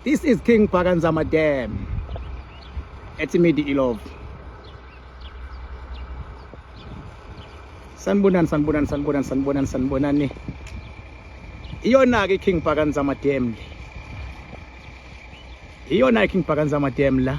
This is King Bhakanzama Dam ethi Midi Ilove. Sanibonani sanibonani sanibonani sanibonani sanibonani. Iyona ke King Bhakanzama Dam le. Iyona King Bhakanzama Dam la.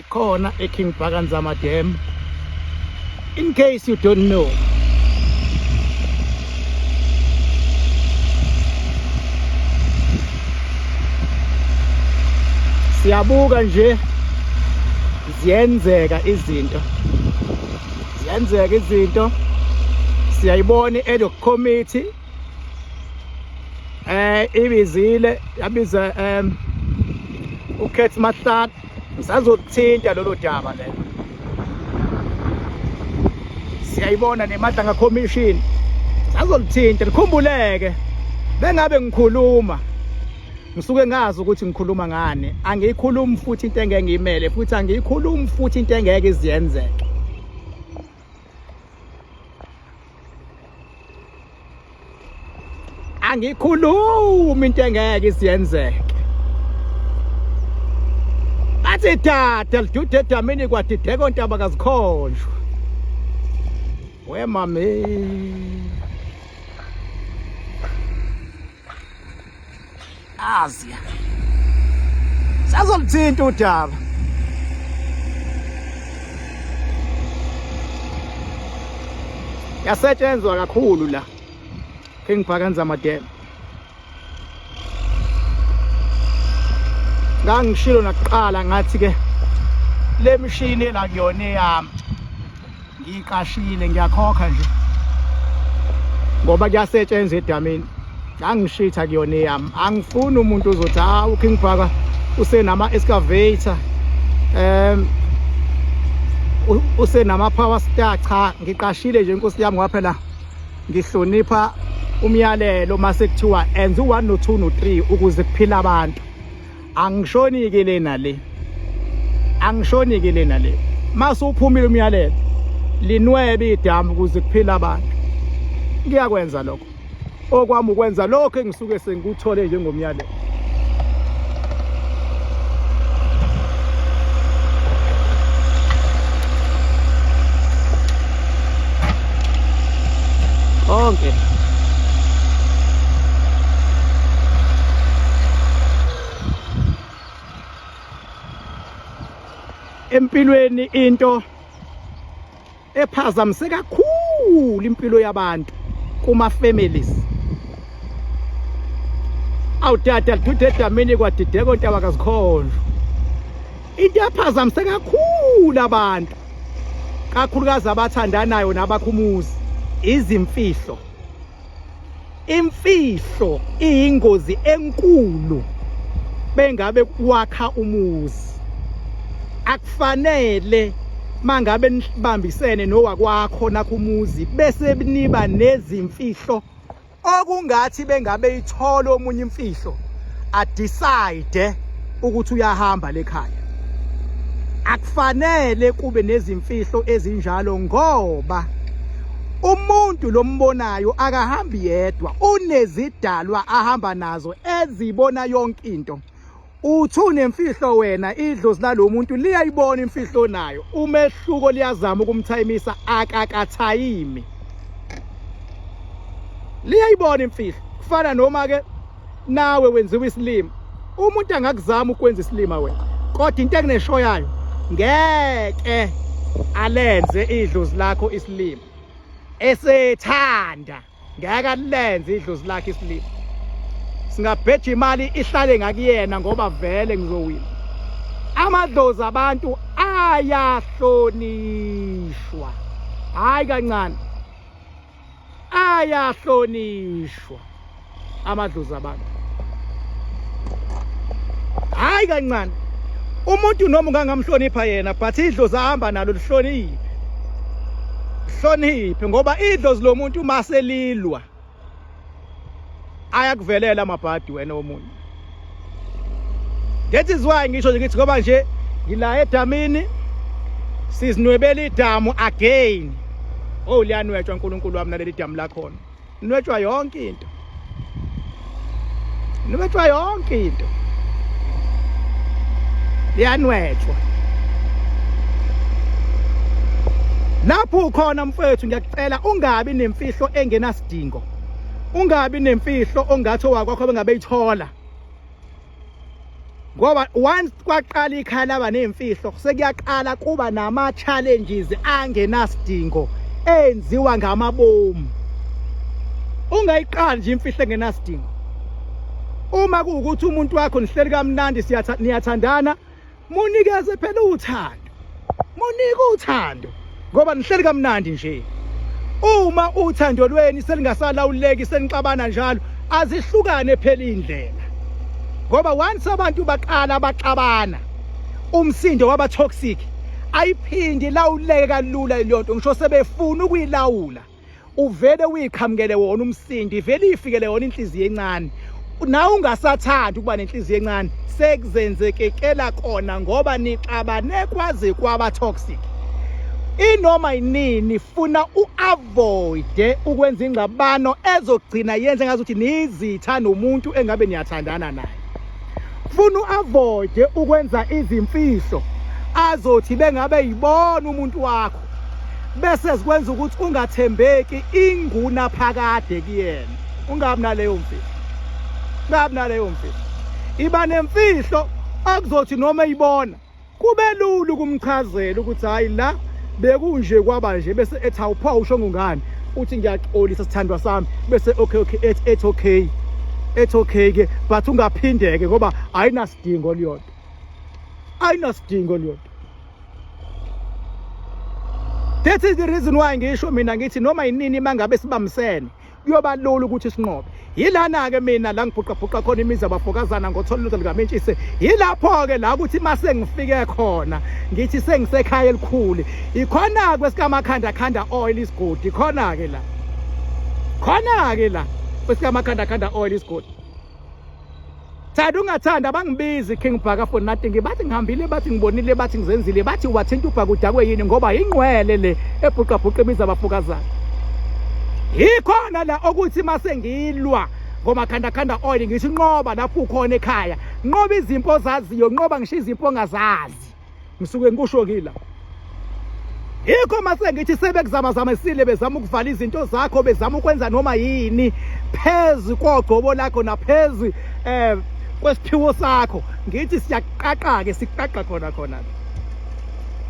ikhona eKing Bhakanzama Dam in case you don't know siyabuka nje ziyenzeka izinto ziyenzeka izinto siyayibona i-ad hoc committee eh ibizile yabiza em ukhethi mahlala ngisazothinta lolo daba lelo siyayibona nemadlanga commission sazolithinta likhumbuleke bengabe ngikhuluma ngisuke ngazi ukuthi ngikhuluma ngani angiyikhulumi futhi into engeke ngiyimele futhi angiyikhulumi futhi into engeke iziyenzeke angikhulumi into engeke isiyenzeke athi dada lidude edamini kwadideka ontaba kazikhonjwa we mami Asia. Sazolithinta udaba. Yasetshenzwa kakhulu la. Ke ngibhakanza amadela. Ngangishilo nakuqala ngathi ke le mishini la kuyona eyami. ngiqashile ngiyakhokha nje ngoba kuyasetshenzwa edamini angishitha kuyona eyami angifuni umuntu uzothi ha uking bhaka usenama-excavator um usenama-power star cha ngiqashile nje inkosi yami ngoba phela ngihlonipha umyalelo uma sekuthiwa enza u-one no-two no-three ukuze kuphila abantu angishoni ke lena le angishoni ke lena le mase uphumile umyalelo linwebe idamu ukuze kuphila abantu ngiyakwenza lokho okwami ukwenza lokho engisuke sengikuthole njengomyalelo konke empilweni into ephazamise kakhulu impilo yabantu kuma families awudada lidude edamini kwadideko ntaba kazikhondlo into ephazamise kakhulu abantu kakhulukazi abathandanayo nabakhumuzi izimfihlo imfihlo iyingozi enkulu bengabe kwakha umuzi akufanele mangabe nibambisene nowakwakho nakho umuzi bese niba nezimfihlo okungathi bengabe ithola omunye imfihlo adecide ukuthi uyahamba lekhaya akufanele kube nezimfihlo ezinjalo ngoba umuntu lombonayo akahambi yedwa unezidalwa ahamba nazo ezibona yonke into Uthu nemfihlo wena idlozi lalo muntu liyayibona imfihlo nayo umehluko liyazama ukumthayimisa akakathayimi liyayibona imfihlo kufana noma ke nawe wenziwa isilima umuntu angakuzama ukwenza isilima wena kodwa into ekunesho yayo ngeke alenze idlozi lakho isilima esethanda ngeke alenze idlozi lakhe isilima singabheja imali ihlale ngakuyena ngoba vele ngizowina amadlozi abantu ayahlonishwa hayi kancane ayahlonishwa amadlozi abantu hayi kancane umuntu noma ungangamhlonipha yena but idlozi ahamba nalo lihloniphe hloniphe ngoba idlozi lomuntu uma selilwa ayakuvelela amabhadi wena omunye that is why ngisho nje ngithi ngoba nje ngila edamini sizinwebela idamu again oh liyanwetshwa uNkulunkulu wami naleli damu lakhona Nwetshwa yonke into. Nwetshwa yonke into. Liyanwetshwa. Lapho ukhona mfethu ngiyakucela ungabi nemfihlo engenasidingo. Ungabi nemfihlo ongathi owakwakho bengabe ithola. ngoba once kwaqala ikhaya laba nezimfihlo sekuyaqala kuba nama challenges angenasidingo enziwa ngamabomu ungayiqali nje imfihlo engenasidingo uma kuwukuthi umuntu wakho nihleli kamnandi siyathandana munikeze phela uthando munike uthando ngoba nihleli kamnandi nje uma uthando lweni selingasalawuleki senixabana njalo azihlukane phela indlela ngoba once abantu baqala baxabana umsindo waba toxic ayiphindi lawuleke kalula leyonto ngisho sebefuna ukuyilawula uvele uyiqhamukele wona umsindo ivele iyifikele yona inhliziyo encane nawe ungasathandi ukuba nenhliziyo encane sekuzenzekekela kona ngoba nixabane kwaze kwaba toxic inoma yinini funa u-avoide ukwenza ingxabano ezogcina yenze ngazi ukuthi niyizitha nomuntu engabe niyathandana naye funa u-avoide ukwenza izimfihlo azothi bengabe yibona umuntu wakho bese zikwenza ukuthi ungathembeki inguna phakade kuyena ungabi naleyo mfihlo ungabi naleyo mfihlo iba nemfihlo akuzothi noma ibona kube lula ukumchazela ukuthi hayi la bekunje kwaba nje bese ethi awupha usho ngungani uthi ngiyaxolisa sithandwa sami bese okay okay ethi ethi okay ethi okay ke but ungaphindeke ngoba ayinasidingo liyodwa ayinasidingo liyodwa That is the reason why ngisho mina ngithi noma yinini mangabe sibamsene kuyoba lula ukuthi sinqobe yilana-ke mina la ngibhuqabhuqa khona imizi abafokazana ngothola ilutho likamentshise yilapho-ke la ukuthi uma sengifike khona ngithi sengisekhaya elikhulu ikhona-ke kwesikamakhandla khanda oil isigodi khona-ke la khona-ke la kwesikamakhandla khanda oil isigodi Thanda ungathanda abangibizi King Bhaka for nothing bathi ngihambile bathi ngibonile bathi ngizenzile bathi wathinta ubhaka udakwe yini ngoba yingqwele le ebhuqa bhuqa ibiza abafokazana yikhona la okuthi mase ngilwa ngomakhandakhanda oil ngisho inqoba lapho ukhona ekhaya nqoba izimpo ozaziyo nqoba ngisho izimpo ongazazi ngisuke ngikusho kila yikho mase ngithi sebekuzama zamesile bezama ukuvala izinto zakho bezama ukwenza noma yini phezi kogcobo lakho naphezi eh kwesiphiwo sakho ngithi siyaqaqa ke siqaqa khona khona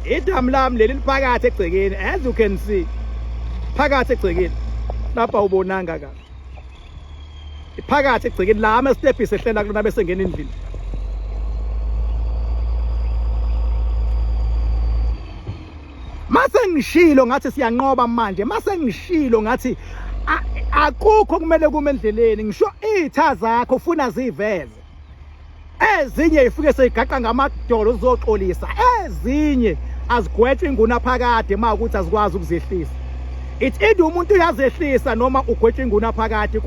idamu lami leli liphakathi egcekeni as you can see phakathi egcekeni lapha ubonanga kahle iphakathi egcekeni la ama step isehlela kulona bese ngena endlini mase ngishilo ngathi siyanqoba manje mase ngishilo ngathi akukho kumele kume endleleni ngisho izitha zakho ufuna ziveze ezinye ifike seyigaqa ngamadolo zizoxolisa ezinye azigwetshwe inguna phakade uma ukuthi azikwazi ukuzehlisa ithi indi umuntu uyazehlisa noma ugwetshwe inguna phakade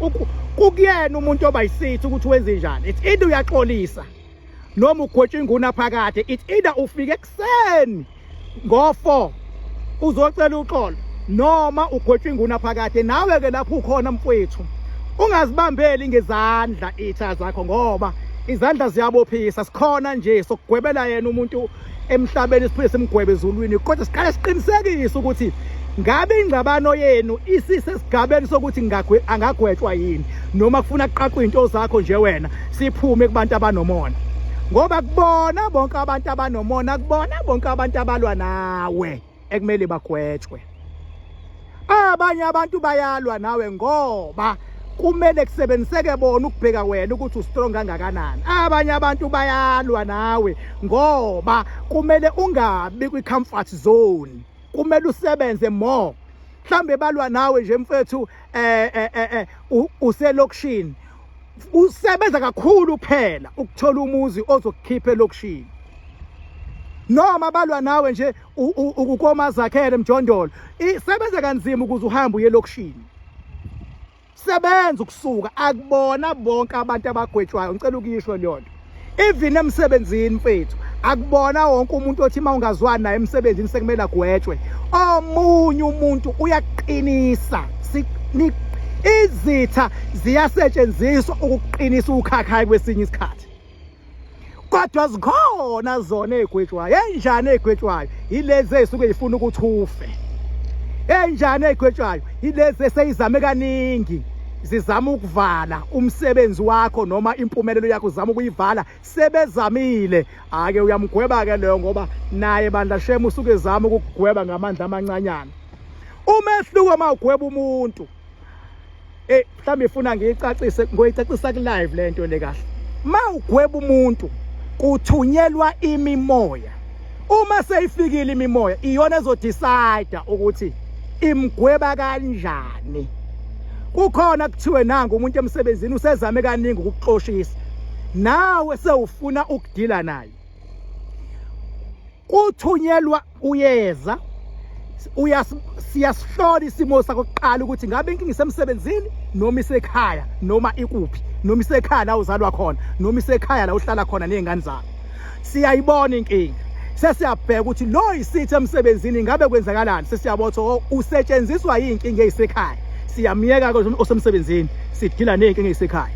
kukuyena umuntu oba yisithi ukuthi wenze njani ithi indi uyaxolisa noma ugwetshwe inguna phakade ithi ida ufike Sen ngo 4 uzocela uxolo noma ugotshwa inguna phakade nawe ke lapho ukhona mfwethu ungazibambeli ngezandla itha zakho ngoba izandla ziyabophisa sikhona nje sokugwebela yena umuntu emhlabeni siphinde simgwebe ezulwini kodwa siqale siqinisekise ukuthi ngabe ingxabano yenu isisesigabeni sokuthi angagwetshwa yini noma kufuna kuqaqwa into zakho nje wena siphume kubantu abanomona ngoba kubona bonke abantu abanomona kubona bonke abantu abalwa nawe ekumele bagwetshwe abanye abantu bayalwa nawe ngoba kumele kusebenziseke bona ukubheka wena ukuthi ustrong kangakanani abanye abantu bayalwa nawe ngoba kumele ungabi kwi-comfort zone kumele usebenze more mhlambe balwa nawe nje mfethu eh eh eh, eh uselokishini usebenza kakhulu kuphela ukuthola umuzi ozokukhipha elokushini noma balwa nawe nje ukukoma zakhele mjondolo isebenza kanzima ukuze uhambe uye elokushini sebenza ukusuka akubona bonke abantu abagwetshwayo ngicela ukuyisho leyo nto even emsebenzini mfethu akubona wonke umuntu othi uma ungazwani naye emsebenzini sekumele agwetshwe omunye umuntu uyaqinisa izitha ziyasetshenziswa ukuqinisa ukhakhayi kwesinye isikhathi kodwa zikhona zona egwetshwayo enjani egwetshwayo yilezi ezisuke zifuna ukuthi ufe enjani egwetshwayo yilezi eseyizame kaningi zizama ukuvala umsebenzi wakho noma impumelelo yakho uzama ukuyivala sebezamile ake uyamgweba ke leyo ngoba naye bandla shema usuke ezama ukugweba ngamandla amancanyana umehluko uma ugweba umuntu eh mhlawumbe ifuna ngiyicacise ngoyicacisa ku live lento le kahle uma ugweba umuntu kuthunyelwa imimoya uma seyifikile imimoya iyona ezodecide ukuthi imgweba kanjani kukhona kuthiwe nangu umuntu emsebenzini usezame kaningi ukuxoshisa nawe sewufuna ukudila naye kuthunyelwa uyeza siyasihlola isimo sakho kuqala ukuthi ngabe inkinga isemsebenzini noma isekhaya noma ikuphi noma isekhaya la uzalwa khona noma isekhaya la uhlala khona nezingane zakho siyayibona inkinga sesiyabheka ukuthi lo isithi emsebenzini ngabe kwenzakalani sesiyabotha oh, usetshenziswa yinkinga eyisekhaya siyamyeka ke osemsebenzini sidila nezinkinga ezisekhaya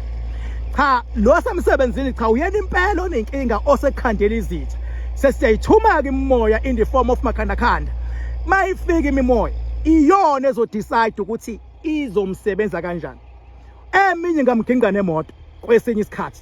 cha lo semsebenzini cha uyena impela onenkinga osekhandela izitha sesiyayithuma ke imimoya in the form of makhanda khanda mayifika imimoya iyona ezodecide ukuthi izomsebenza kanjani eminye ngamgingane emoto kwesinye isikhathi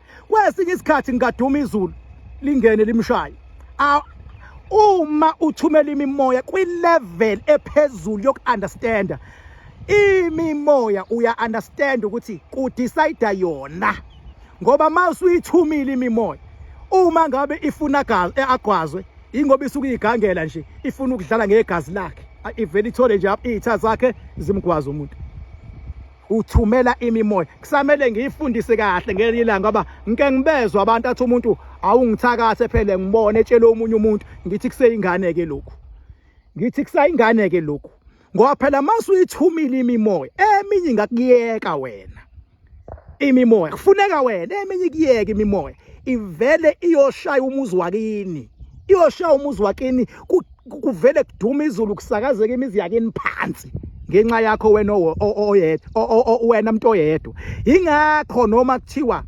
kwesinye isikhathi ngingaduma izulu lingene limshaye uma uthumela imimoya kwi-level ephezulu yoku-understanda imimoya uya-understand ukuthi kudicide yona ngoba uma usuyithumile imimoya uma ngabe ifuna gazi eh, agwazwe ingoba isuke igangela nje ifuna ukudlala ngegazi lakhe ivele ithole nje iy'tha zakhe zimgwaza umuntu uthumela imimoya kusamele ngiyifundise kahle ngelinye ilanga ngoba ngike ngibezwa abantu athi umuntu awungithakathe phele ngibone etshela omunye umuntu ngithi kuseyingane ke lokhu ngithi kusayingane ke lokhu ngoba phela mase uyithumile imimoya eminye ingakuyeka wena imimoya kufuneka wena eminye ikuyeka imimoya ivele iyoshaya umuzi wakini iyoshaya umuzi wakini kuvele kuduma izulu kusakazeka imizi yakini phansi ngenxa yakho wena oyedwa wena mntu oyedwa ingakho noma kuthiwa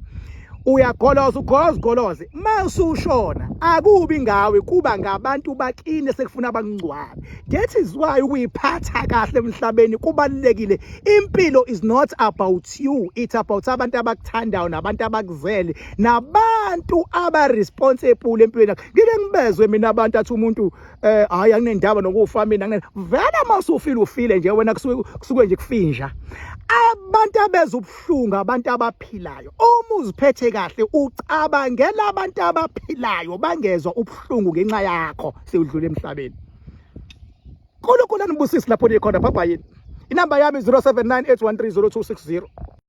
uyagoloza ugoloza ugoloze masushona akubi ngawe kuba ngabantu bakini sekufuna abangcwabe that is why ukuyiphatha kahle emhlabeni kubalekile impilo is not about you it's about abantu abakuthandayo nabantu abakuzele nabantu aba responsible empilweni yakho ngike ngibezwe mina abantu athi umuntu eh hayi anginendaba nokufa mina ngene vela masufile ufile nje wena kusuke nje kufinja abantu abeza ubuhlungu abantu abaphilayo uma uziphethe kahle ucabangela abantu abaphilayo bangezwa ubuhlungu ngenxa yakho siwudlule emhlabeni uNkulunkulu anibusisi lapho nikhona bye bye inamba yami 0798130260